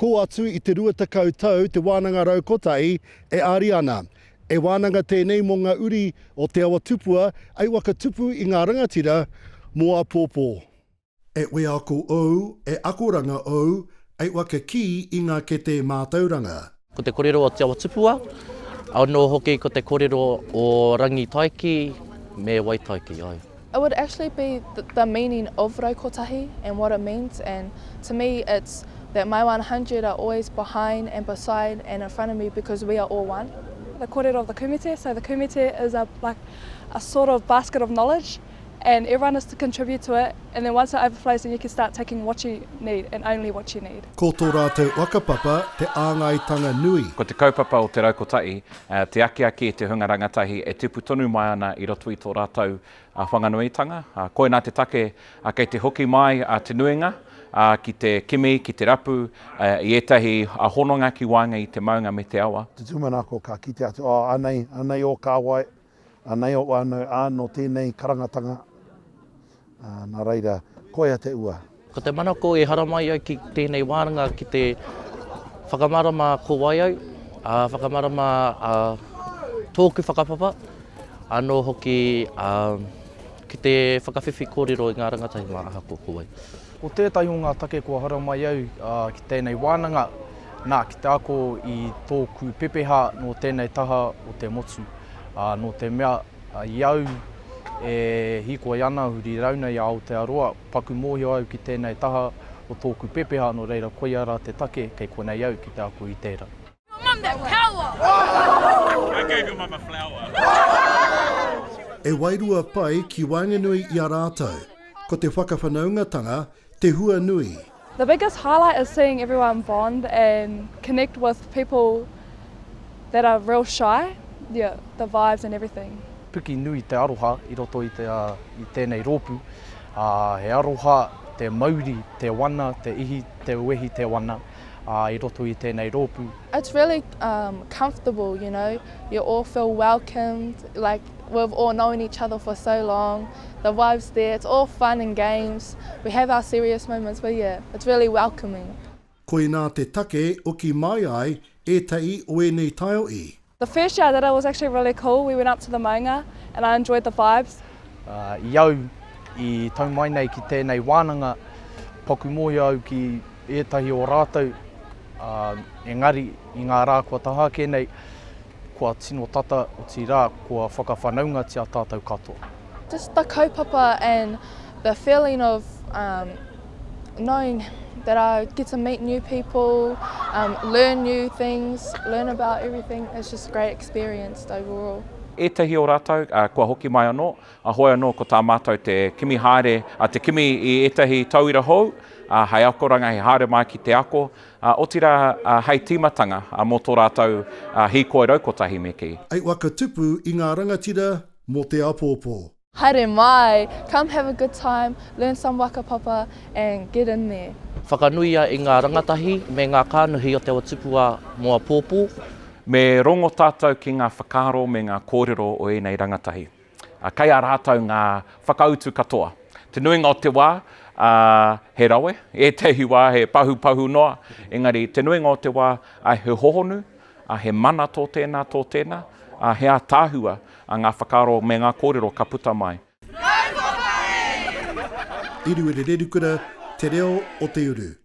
Kō atu i te rua tekau tau te wānanga rau kotahi e āri ana. He wānanga tēnei mō ngā uri o Te Awa Tupua hei whakatupu i ngā rangatira mō apōpō. E wheako ou, e akoranga ou, e waka kī i ngā ketē mātauranga. Ko te korero o Te Awatupua, anō hoki ko te korero o Rangitaiki me Waitaiki, ai. It would actually be the meaning of rau kotahi and what it means and to me it's that my one hundred are always behind and beside and in front of me because we are all one. The korero of the kumite, so the kumite is a like a sort of basket of knowledge. and everyone is to contribute to it and then once it overflows then you can start taking what you need and only what you need. Ko tō rātou whakapapa te āngaitanga nui. Ko te kaupapa o Te Rau Kotahi te akiaki i te hunga rangatahi e tipu tonu mai ana i roto i tō rātou whanganuitanga. Koinā te take kei te hoki mai te nuinga ki te kimi, ki te rapu i ētahi hononga ki waenga i te maunga me te awa. Te tūmanako ka kite atu, oh, anei, anei ō kāwai, Anei o wānau a nō tēnei karangatanga, nā reira, koia te ua. Ko te manako e haramai au ki tēnei wānanga ki te whakamarama ko wai au, whakamarama tōku whakapapa, anō hoki ki te whakawhiwhi kōrero i ngā rangatahi mā ahako ko wai. Ko tētahi o ngā take kua haramai au ki tēnei wānanga, nā, ki te ako i tōku pepeha nō tēnei taha o te motu. Nō te mea, i au e hīkoi ana huri rauna i a Aotearoa, paku mōhio au ki tēnei taha o tōku pepeha, nō reira koia rā te take kei konei au ki te ako i tērā. E wairua pai ki waenganui i a rātou, ko te whakawhanaungatanga te hua nui. The biggest highlight is seeing everyone bond and connect with people that are real shy, yeah, the vibes and everything. Puki nui te aroha i roto i tēnei rōpū, ā, he aroha te mauri, te wana, te ihi, te wehi, te wana. ā, i roto i tēnei rōpū. It's really um comfortable, you know, you all feel welcomed, like we've all known each other for so long, the vibe's there, it's all fun and games, we have our serious moments, but yeah, it's really welcoming. Koinā te take o ki mai ai ētahi o ēnei taio i. The first year I did it was actually really cool, we went up to the maunga and I enjoyed the vibes. I au i tau mai nei ki tēnei wānanga, paku mōhio au ki ētahi o rātou, ā, engari i ngā rā kua taha ake nei, kua tino tata, otirā, kua whakawhanaungatia tātou katoa. Just the kaupapa and the feeling of, um. knowing that I get to meet new people, um, learn new things, learn about everything. It's just a great experience overall. Ētahi o rātou, uh, kua hoki mai anō, a hoi anō ko tā mātou te kimi haere, a uh, te kimi i ētahi tauira hou, uh, hei akoranga, hei haere mai ki te ako, uh, otira uh, hei tīmatanga uh, mō tō rātou uh, hīkoi rau kotahi me kī. Eight waka tupu i ngā rangatira mō te apōpō. Haere mai! Come have a good time, learn some waka papa and get in there! Whakanuia i ngā rangatahi me ngā kānuhi o Te Awa Tupua mō apōpō. Me rongo tātou ki ngā whakaaro me ngā kōrero o ēnei rangatahi. Kei a rātou ngā whakautu katoa. Te nuinga o te wā, he rawe, ētahi wā he pahupahu noa, engari te nuinga o te wā, he hohonu, ā, he mana tō tēnā, tō tēnā, ā, he ātaahua ā ngā whakaaro me ngā kōrero ka puta mai. Iruerererukura, Te Reo o te Uru.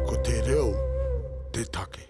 Ko te reo te take.